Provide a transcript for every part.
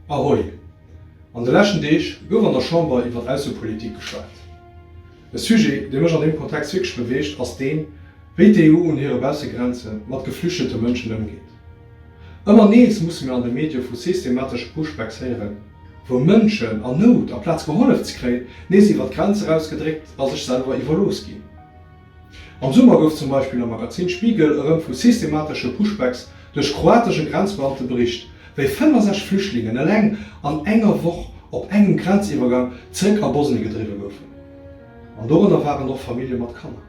Ahoi! An de leschten Deeg gouf an der Chamber iwwert Aussepolitik geschwat. E Sujet, dee mech an deem Kontext wierklech beweegt, ass deen, wéi d'EU un hire Baussegrenze mat geflüchtete Mënschen ëmgeet. Ëmmer nees musse mir an de Medie vu systematesche Pushbacks héieren, wou Mënschen an Nout, aplaz gehollef ze kréien, nees iwwert d'Grenz eraus gedréckt a sech selwer iwwerlooss ginn. Am Summer gouf zum Beispill am Magazin Spiegel erëm vu systematesche Pushbacks duerch kroatesche Grenzbeamte bericht, wéi 65 Flüchtlingen eleng an enger Woch op engem Grenziwwergang zeréck a Bosnie gedriwwe goufen. An dorënner waren och Famillje mat Kanner.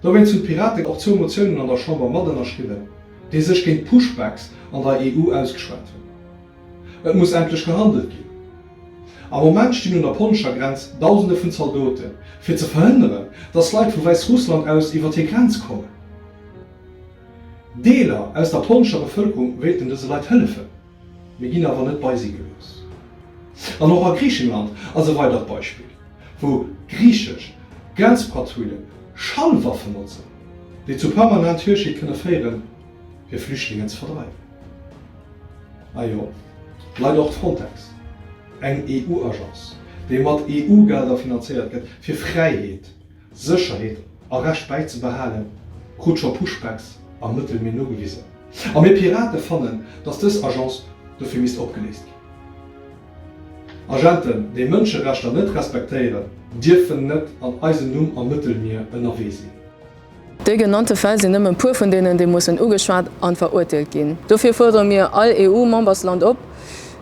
Dowéinst hunn d'Piraten och zwou Motiounen an der Chamber mat ënnerschriwwen, déi sech géint d'Pushbacks an der EU ausgeschwat hunn. Et muss endlech gehandelt ginn. Am Moment stinn un der polnescher Grenz Dausende vun Zaldoten, fir ze verhënneren, dass Leit vu Wäissrussland aus iwwer hir Grenz kommen. Deeler aus der polnescher Bevëlkerung wéilten dëse Leit hëllefen, mee ginn awer net bei si gelooss. An och a Griichenland ass e weidert Beispill, wou griichesch Grenzpatruille Schallwaffen notzen, déi zu permanent Hürschéit kënne féieren. fir Flüchtlingen ze verdreiwen. A jo, Leit, och d'Frontex, eng EU-Agence, déi mat EU-Gelder finanzéiert gëtt, fir Fräiheet, Sécherheet a Recht bäizebehalen, krut scho Pushbacks am Mëttelmier nogewisen. A mir Pirate fannen, datt dës Agence dofir misst opgeléist ginn. Agenten, déi Mënscherechter net respektéieren, dierfen net an eisem Numm am Mëttelmier ënnerwee sinn. Déi genannte Fäll sinn nëmme e puer vun deenen, déi mussen ugeschwat an verurteelt ginn. Dofir fuerdere mir all EU-Membersland op,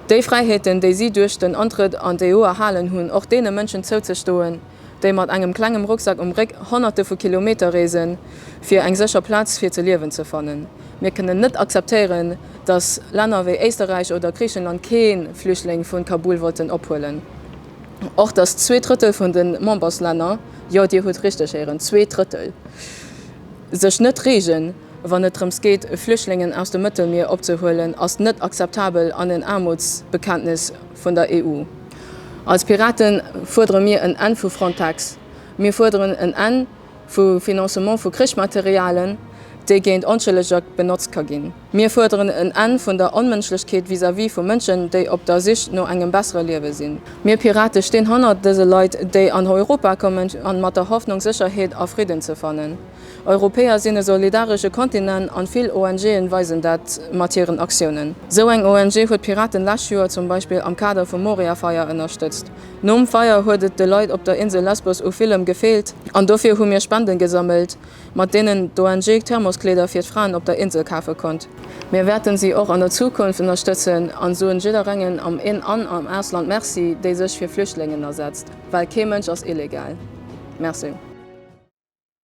déi Fräiheeten, déi si duerch den Antrëtt an d'EU erhalen hunn, och deene Mënschen zouzestoen, déi mat engem klengem Rucksack um Réck Honnerte vu Kilometer reesen, fir eng sécher Plaz fir ze liewen ze fannen. Mir kënnen net akzeptéieren, dass Länner wéi Éisterräich oder Griichenland kee Flüchtling vu Kabul wollten ophuelen. och, datt zwee Drëttel vun de Memberslänner, jo, Dir hutt richteg héieren, zwee Drëttel, sech net reegen, wann et drëms geet, Flüchtlingen aus dem Mëttelmier opzehuelen, ass net akzeptabel an en Aarmutsbekenntnis vun der EU. Als Pirate fuerdere mir en Enn vu Frontex. Mir fuerderen en Enn vum Financement vu Krichsmaterialien, dee géint Onschëlleger benotzt ka ginn. Mir fuerderen en Enn vun der Onmënschlechkeet vis-à-vis vu Mënschen, déi op der Sich no engem bessere Liewe sinn. Mir Pirate stinn hannert dëse Leit, déi an Europa kommen, an mat der Hoffnung Sécherheet a Fridden ze fannen. Europäer sinn e solidaresche Kontinent an vill ONG'en weisen dat mat hiren Aktiounen. Sou eng ONG huet d'Piraten lescht Joer zum Beispill am Kader vum Moria-Feier ënnerstëtzt. Nom Feier huet et de Leit op der Insel Lesbos u villem gefeelt an dofir hu mir Spenden gesammelt. mat deenen d'ONG Thermoskleeder fir d'Fraen op der Insel kafe konnt. Mir wäerten si och an der Zukunft ënnerstëtzen a soen jidderengem am In an am Ausland Merci, dee sech fir Flüchtlingen asetzt, well kee Mënsch ass illegal. Merci.